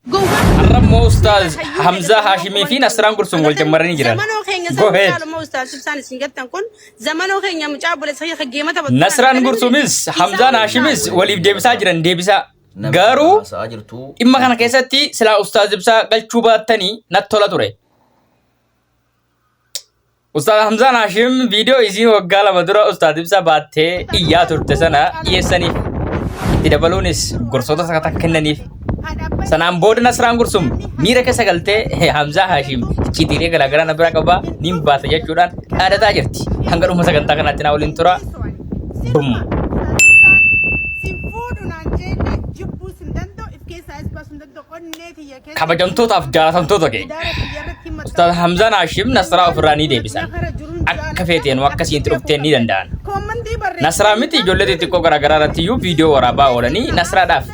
Har'ammoo Ustaaz Hamzaa Haashimii fi Nasraan Gursuun wal jammaranii jiran. Zamanoo keenya Go ahead. sababii maalummaa ustaas ibsaan isin gattan kun zamanoo keenya mucaa obboleessa kiyya kan geemata battu. Nasraan Gursuumis Hamzaan Haashimis waliif deebisaa jiran deebisaa. Garuu Sa'aa jirtu. dhimma kana keessatti silaa Ustaaz Ibsaa galchuu baattanii natti tola ture. Ustaad Hamzaan Haashim viidiyoo isii waggaa lama dura Ustaad Ibsaa baattee iyyaa turte sana dhiyeessaniif. Itti dabaluunis gorsoota sakataa kennaniif. Sanaan booda Nasraan Gursum miira keessa galtee "Hee, Hamzaa Haashim icciitiilee garaagaraa na biraa qabaa nin baasa jechuudhaan dhaadataa jirti. Hanga dhuma sagantaa kanaatti naa waliin tura. Bum. Sin fuudhu naan jeellee jibbuu sin danda'u if keessaa is baasuu hin danda'u onnee tiyya kabajamtootaaf jaallatamtoota keenya Ustaaz Hamzaan Haashim Nasraa ofirraa ni deebisan akka feeteen akka siinti dhufteen ni danda'an Nasraa miti ijoollee xixiqqoo garaagaraa irratti iyyuu viidiyoo waraabaa oolanii Nasraadhaaf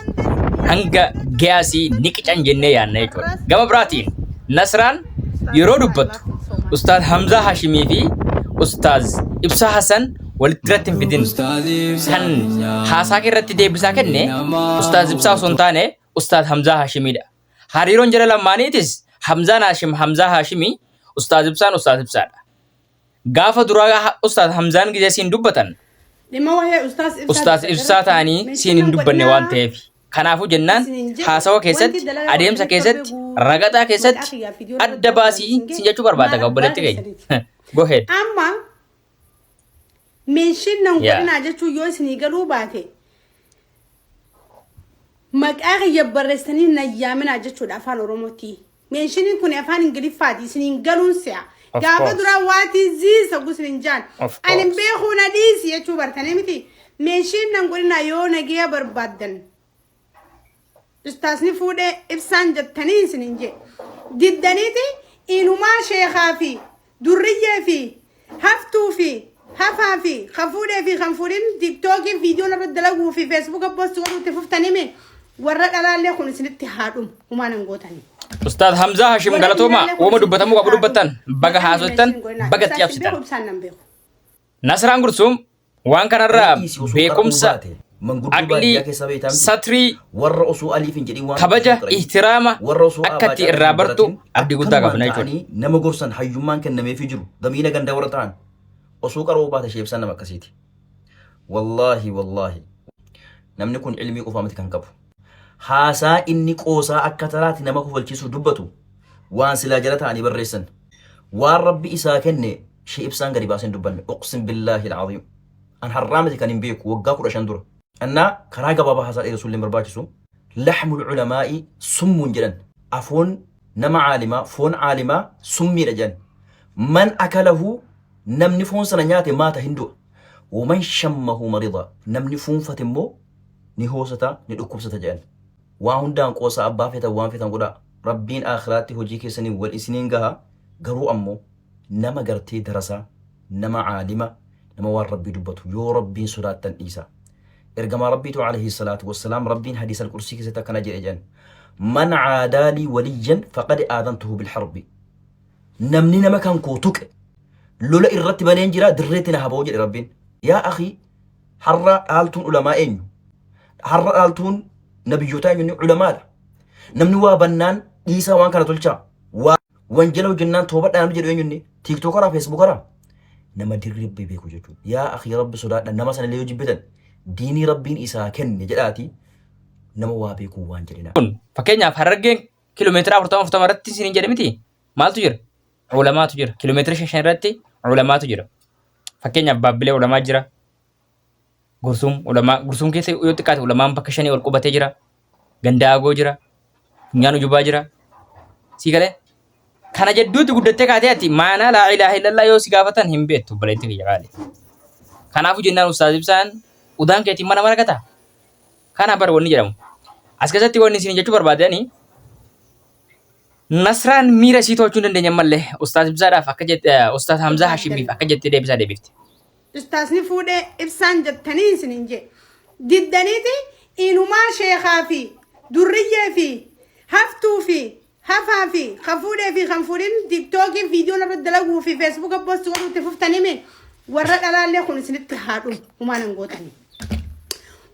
hanga gaasii ni qican jennee yaadna jechuudha gama biraatiin Nasraan yeroo dubbattu Ustaaz Hamzaa Haashimii fi Ustaaz Ibsaa Hasan walitti irratti hin fidin kan haasaa kee irratti deebisaa kenne Ustaaz Ibsaa osoo hin taane Ustaaz Hamzaa Haashimiidha. Hariiroon jara lammaaniitis Hamzaan Haashim Hamzaa Haashimii, Ustaaz Ibsaan Ustaaz Ibsaadha. Gaafa duraa Ustaaz Hamzaan gizee siin dubbatan Dhimma wahee ustaas ibsaa Ustaaz dubbatarratti Ibsaa ta'anii siin mention hin dubbanne godhinaa. waan ta'eef. Kanaafuu jennaan Isin hin jedhu. haasawa Wanti keessatti, dalagaa adeemsa waliin keessatti, qabdu guutuu ragaxaa maqaa keessatti kiyyaa fi ijoollee adda koo baasii waliin siin jechuu barbaada ga'a obboleetti baay'ee keenya. Go ahead. Amma Meenshiin nan Yeah. godhinaa jechuun yoo isinii galuu baate maqaa kiyya barreessanii nan yaaminaa jechuudha afaan oromootti. Meenshiin kun afaan ingiliffaati isiniin galuun si'a. Of Gaafa course. duraa waatii ziisa gusin hin jaan. Of Ani hin course. beekuu na dhiisi jechuu bartanii miti. Meenshiin nan godhinaa yoo nageeya barbaaddan Ustaasni fuudhee ibsaan jettanii isiniin jee. Diddaniiti inumaa sheekaa fi durriyyee fi haftuu fi hafaa fi kan fuudhee fi kan fuudhin tiktookii viidiyoon irra dalaguu fi feesbuuka poostii godhuu itti fuftanimi warra dhalaallee kun isinitti haadhum humaan hin gootanii. Ustaad Hamzaa Hashim Galatoomaa uuma dubbatamuu qabu dubbattan baga haasoftan baga itti cabsitan. Nasraan Gursuum Waan kanarraa Dhiisii osoo qara'uu beekumsa, baate, manguddoo aqlii, baadiyyaa keessaa beektaa miti? satrii, warra osoo aliif hin jedhin waan kabaja, tokko turan. ihtiraama warra osoo akka aabaa itti caalaa irraa hin bartu baratin abdii guddaa akkanumaan qabna jechuudha. ta'anii nama gorsan hayyummaan kennameefii jiru gamiila gandaa warra ta'an osoo qara'uu baate sheebsaan nama akkasiiti wallaahi wallaahi namni kun ilmii qofaa miti kan qabu Haasaa inni qoosaa akka taraati nama kofalchiisu dubbatu waan silaa jala ta'anii barreessan. Waan Rabbi isaa kenne Shee Ibsaan gadi baasee hin dubbanne. Uqsim billaahil aziim. An har'aa miti kan hin beeku waggaa 15 dura. Annaa karaa gabaabaa haasaa dheeresuu illee hin barbaachisu. Lahmul ulamaa'i summun jedhan. Afoon nama caalimaa, foon caalimaa summiidha jedhan. Man akalahu namni foon sana nyaate maata hin du'a. Waman shammahu marida namni fuunfate immoo ni hoosata ni dhukkubsata jedhan waa hundaan qoosaa abbaa feetan waan feetan godhaa rabbiin aakhiraatti hojii keessaniin wal isiniin gaha garuu ammoo nama gartee darasaa nama aalima nama waan rabbii dubbatu yoo rabbiin sodaattan dhiisaa ergamaa rabbiitu alayhi salaatu wassalaam rabbiin hadiis alqursii keessatti akkana jedhe jedhan man caadaalii waliyyan faqad aadantuhu bilharbi namni nama kan koo tuqe lola irratti baneen jira dirreetti na haboo jedhe rabbiin yaa akii Har'a dhaaltuun ulamaa eenyu? Har'a dhaaltuun nabiyyootaa eenyu? Inni ulamaadha. Namni waa bannaan dhiisaa waan kana tolchaa. Waa wanjala hojjennaan toobadhaa namni jedhu eenyu inni? Tiiktookaraa, feesbuukaraa? Nama dirree rabbii beeku jechuudha. Yaa akii rabbi sodaadha nama sana illee yoo jibbitan diinii rabbiin isaa kenne jedhaati nama waa beekuu waan jedhinaa. kun fakkeenyaaf harargeen kiiloomeetira afurtama afurtama irratti isiniin jedhe miti maaltu jira Ulamaatu jira. Kilomeetira shan shan irratti ulamaatu jira. Fakkeenyaaf Baabbilee ulamaa jira. Gursum ulamaa Gursum keessa yoo xiqqaate ulamaan bakka shanii ol qubatee jira. Gandaa agoo jira. Funyaan ujubaa jira. Sii galee? Kana jidduutti guddattee kaatee ati maanaa laa ilaaha illallaa yoo si gaafatan hin beektu obboleetti kiyya qaali. Kanaafuu jennaan ustaaz ibsaan udaan keetiin mana maragata. Kana bar wanni jedhamu. As keessatti wanni isin jechuu barbaadanii Nasraan miira isii to'achuu hin dandeenye ammallee Ustaaz Ibsaadhaaf akka jette Ustaaz Hamzaa Hashimiif akka jettee deebisaa deebifte. Ustaazni fuudhee ibsaan jettanii isiniin jee. Diddaniiti inumaa sheekaa fi durriyyee fi haftuu fi hafaa fi kan fuudhee fi kan fuudhin tiiktookii viidiyoon irratti dalaguu fi feesbuuka poostii godhuutti fuftanimi warra dhalaallee kun isinitti haadhu humaan hin gootanii.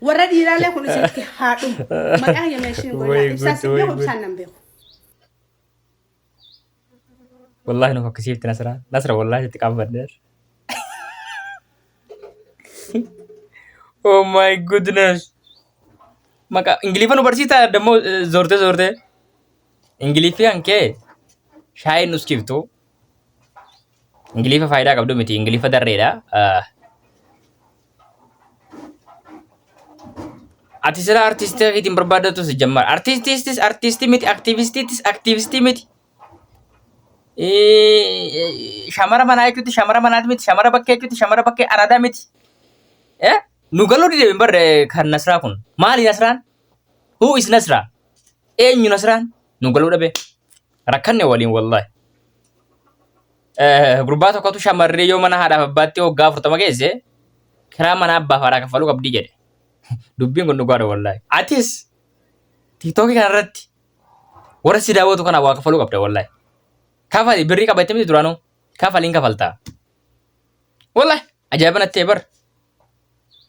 Warra dhiiraallee kun isinitti haa dhumu. Maqaa hiyya meeshiin Way godhaa. Ibsaa good, sin way beeku good. ibsaan nan beeku. Wallaahi nu fokkisiifti Nasra. Nasra wallaahi itti qaanfadheer. Oh my goodness. Maqaa Ingiliffa nu barsiisaa dammoo zoortee zoortee. Ingiliffi kan kee shaayiin nuskiftu. Ingilifa faayidaa qabdu miti. Ingilifa darreedha. Ati sila artistii keetiin barbaadatu si jammar. Artistiistis artistii miti, aktiivistiitis aktiivistii miti. Shamara manaa jechuutti shamara manaati miti, shamara bakkee jechuutti shamara bakkee aradaa miti. Nu galuu dideemin barre kan Nasraa kun. Maali Nasraan? Who is Nasraa? Eenyu Nasraan? Nu galuu dhabee. rakkanne waliin wallahi. Eh, Gurbaa tokkotu shamarree yoo mana haadhaaf abbaatti hoggaa afurtama geesse kiraa mana abbaaf haadhaa kaffaluu qabdii jedhe. Dubbiin kun dhugaadha wallahi. Atis tiktookii kanarratti warra si daawwatu kana waa kaffaluu qabda wallahi. Kafali birrii qabatte miti duraanuu kafaliin kafaltaa. Wallahi. Ajaa'iba natti ta'e bar.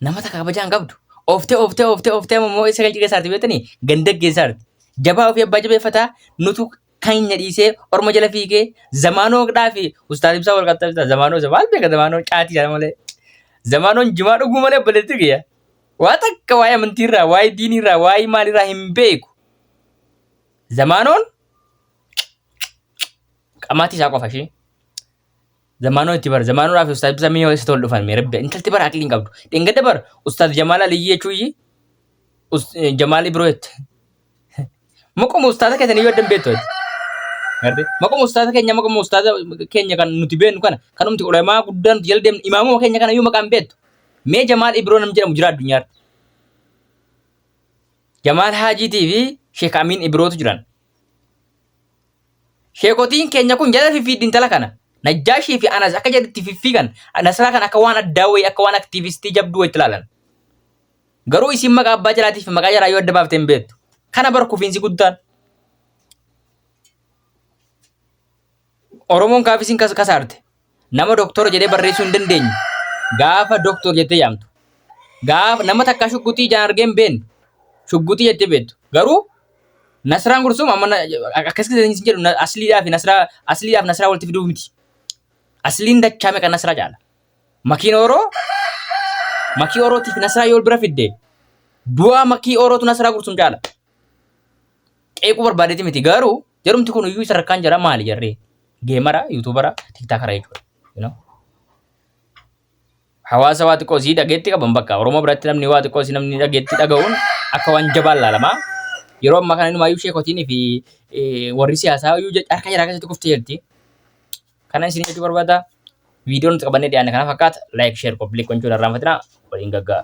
Nama takka kabajaan qabdu. Ooftee ooftee ooftee ooftee amma immoo isa galchi keessaati beektanii ganda keessaati. Jabaa ofii abbaa jabeeffataa nutu keenya dhiisee orma jala fiigee zamaanoo dhaa fi ustaaz ibsaa wal qaxxabsiisa zamaanoo isa maal beeka zamaanoo caatii jala malee. Zamaanoon jimaa dhuguu malee obboleetti kiyya. Waa takka waa'ee amantiirraa waa'ee diiniirraa waa'ee maalirraa hin beeku. Zamaanoon qamaatii isaa qofa ishee. Zamaanoo itti bara zamaanuudhaa fi ustaaz bisamii yoo eessatti wal dhufan mee rabbi intalti bara aqliin qabdu dhengada bara ustaaz jamaala liyyii jechuu iyyii Us- eh, jamaalii biroo jette maquma ustaaza keessan iyyuu addan beektu ati. Gartee? maquma ustaaza keenya maquma ustaaza keenya kan nuti beeknu kana kan nuti ulamaa guddaa nuti jala deemnu imaamuma keenya kana iyyuu maqaan beektu mee jamaal ibroo nam jedhamu jira addunyaarra jamaal haajiitii fi sheek amiin ibrootu jiran Sheekotiin keenya kun jala fiffiiddi intala kana. Najjaashii fi Anas akka jedhetti fiffiigan Nasraa kan akka waan addaa wayii akka waan aktiivistii jabduu wayitti ilaalan. Garuu isiin maqaa abbaa jalaatii fi maqaa jalaa yoo adda baafte hin beektu. Kana bar kufiinsi guddaan. Oromoon gaafa isin kas- kasaarte nama doktora jedhee barreessuu hin dandeenye gaafa doktor jettee yaamtu. Gaafa nama takka shugguxii ijaan argee hin beekne shugguxii jettee beektu. Garuu Nasraan Gursum amma na- akkas isin jedhu na- asliidhaa fi nasraa asliidhaa fi nasraa walitti fiduuf miti. Asliin dachaa meeqa nasraa caala. Makiin Oroo makii Orootii fi nasraa yoo bira fidde du'a makii Orootu nasraa Gursum caala. Qeequu barbaadeeti miti garuu Jarumti kun iyyuu sadarkaan jara maali jarri? Geemara, yuutuubara, tiktaakara jechuudha. You know? Hawaasa waa xiqqoo sii dhageetti qaban bakka Oromoo biratti namni waa xiqqoo sii namni dhageetti dhaga'uun akka waan jabaan laalama. Yeroo ammaa kana inumaayyuu sheekotiin fi eh, warri siyaasaa iyyuu je- harka jaraa keessatti kuftee jirti. Kana isin jechuu barbaada. Viidiyoon nuti qabannee dhiyaanne kana fakkaata. Like, share, koppiliik gochuun irraanfatinaa. Waliin gaggaa.